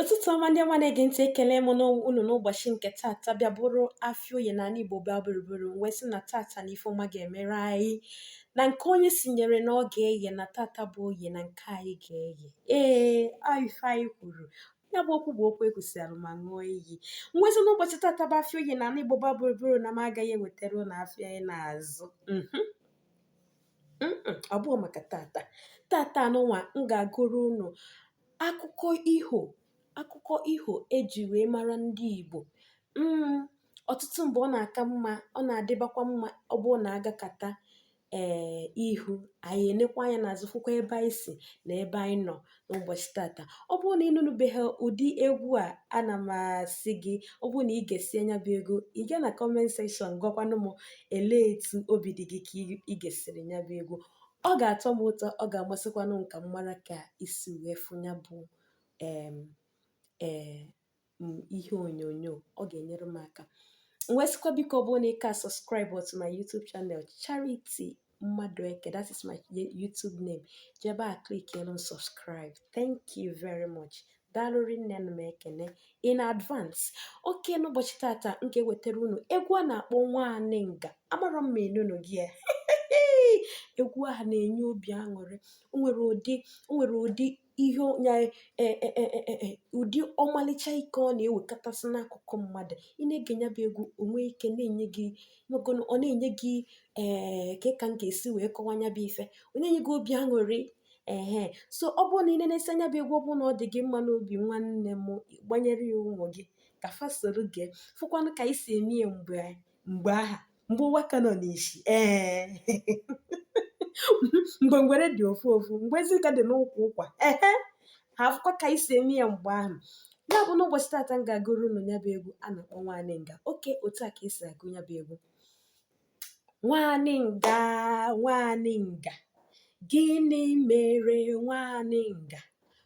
ụtụtụ ọma ndị ọma na-ege ntị ekele m unu n'ụbọchị nke tata bịa bụrụ afịa oye na ala igbo gba gburugburu m wee sị na tata na ife ọma ga-emere anyị na nke onye sinyere na ọ ga-eye na tata bụ oye na nke anyị ga-eye ee ife anyị kwuru ya bụ okwu bụ okwu ekwusịalụ ma ṅụọ iyi nwezi n'ụbọchị tata bụ afịa oye na ala igbo gba gburugburu na m agaghị ewetara unu afịa anyị na-azụ ọ bụghị maka tata tata anụnwa m ga-agụrụ unu akụkọ iho akụkọ iho e ji wee mara ndị Igbo mm, ọtụtụ mgbe ọ na-aka mma ọ na-adịbakwa mma ọ bụrụ na a gakata ee eh, ihu anyị enekwa anya n'azụ fụkwa ebe anyị si na ebe anyị nọ n'ụbọchị tata ọ bụrụ na ị nụnụbeghị ụdị egwu a ana m asị gị ọ bụrụ na i gesie nya bụ egwu ị gaa na kọment sekshọn gwakwanụ m elee etu obi dị gị ka ị- i gesiri nya bụ egwu ọ ga-atọ m ụtọ ọ ga-amasịkwanụ m ka m mara ka i si wee fụ nya bụ em ee m ihe onyonyo ọ ga-enyere m aka m wee sịkwa biko ọ bụrụ na ị ka subscribe to my YouTube channel Charity Madueke that is my YouTube name je ebe a click elu subscribe thank you very much daalụ rinne nụ m ekene in advance oke n'ụbọchị tata m ga-ewetara unu egwu a na-akpọ nwanịnga amarọ m ma ị nụnugo ya egwu ahụ na-enye obi aṅụrị o nwere ụdị o nwere ụdị ihe ya e, e, e, ụdị ọmalịcha ike ọ na-ewekọtasị n'akụkụ mmadụ ị na-ege nya bụ egwu o nwe ike ọ na-enye gị ọ na-enye gị ee ka ka m ga-esi wee kọwa nya bụ ife ọ na-enye gị obi aṅụrị ehe so ọ bụrụ na i nenesi nya bụ egwu ọ bụrụ na ọ dị gị mma n'obi nwanne m gbanyere ya ụmụ gị ka fa soro gee fụkwanụ ka anyị si eme ya mgbe mgbe ahụ mgbe ụwa ka nọ n'isi ee mgbe ngwere dị ofu ofu mgbe ezi ka dị n'ụkwụ ụkwa ehe ha afụkwa ka anyị si eme ya mgbe ahụ ya bụ n'ụbọchị tata m ga-agụrụ unu nya bụ egwu a na-akpọ nwanịnga oke otu a ka e si agụ nya bụ egwu nwanịnga nwanịnga gịnị mere nwanịnga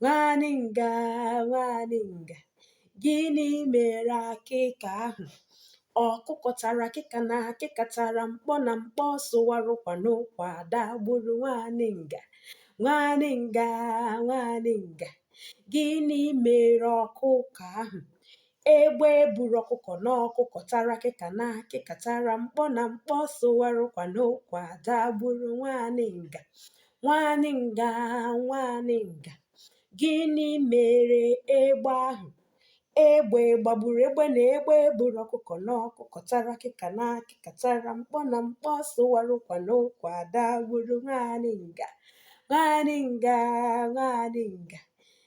nwanịnga nwanịnga gịnị mere akịka ahụ ọkụkọ tara akịka na akịka tara mkpọ na mkpọ sụwara ụkwa na ụkwa dagburu nwanịnga nwanịnga nwanịnga gịnị mere ọkụkọ ahụ egbe buru ọkụkọ na ọkụkọ tara akịka na akịka tara mkpọ na mkpọ sụwara ụkwa na ụkwa dagburu nwanịnga Nwaanyị nga nwaanyị nga gịnị mere egbe ahụ egbe gbagburu egbe na egbe buru ọkụkọ na ọkụkọ tara akịka na akịka tara mkpọ na mkpọ sụwara ụkwa na ụkwa dagburu nwaanyị nga nwaanyị nga nwaanyị nga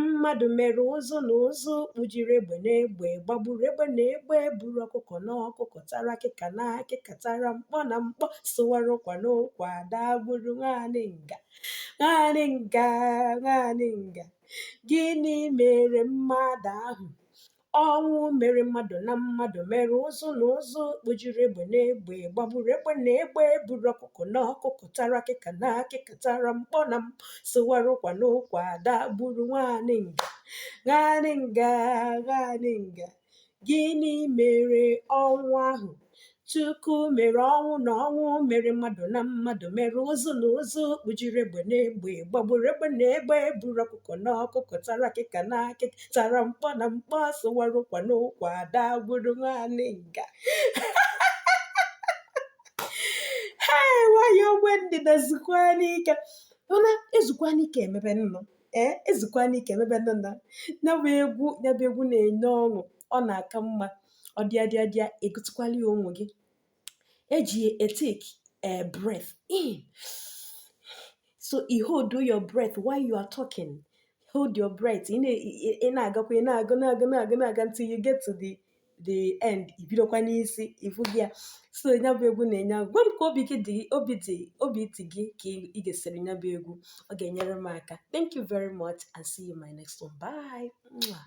mmadụ mere ụzụ na ụzụ kpujiri egbe na egbe gbagburu egbe na egbe buru ọkụkọ na ọkụkọ tara akịka na akịka tara mkpọ na mkpọ sụwara ụkwa na ụkwa dagburu nwaanyị nga nwaanyị nga nwaanyị nga gịnị mere mmadụ ahụ Ọnwụ mere mmadụ na mmadụ mere ụzụ na ụzụ kpujiri egbe na egbe gbagburu egbe na egbe buru ọkụkọ na ọkụkọ tara akịka na akịka tara mkpọ na mkpọ sụwara ụkwa na ụkwa dagburu nwaanyị nga nwaanyị nga nwaanyị nga gịnị mere ọnwụ ahụ Chukwu mere ọnwụ na ọnwụ mere mmadụ na mmadụ mere ụzụ na ụzụ kpujiri egbe na egbe gbagburu egbe na egbe buru ọkụkọ na ọkụkọ tara akịka na akịka tara mkpọ na mkpọ sụwara ụkwa na ụkwa dagburu nwaanyị nga haị nwaanyị ogbe ndịda zukwanụ ike mana ezukwanụ ike emebe nnụ ee ezukwanụ ike emebe nọ na ya bụ egwu ya bụ egwu na-enye ọṅụ ọ na-aka mma ọ dịa dịa dịa ị gụtụkwala ya ụmụ gị eji ya e-take a breath in so ị hold your breath while you are talking hold your breath ị na- ị- ị na-agakwa ị na-aga na-aga na-aga na-aga until you get to the the end i bidokwa n'isi ị fụgo ya so ya bụ egwu na-enye aka gwa m ka obi gị dị obi dị obi dị gị ka ị- ị gesịrị ya bụ egwu ọ ga-enyere m aka thank you very much and see you in my next one bye Mwah.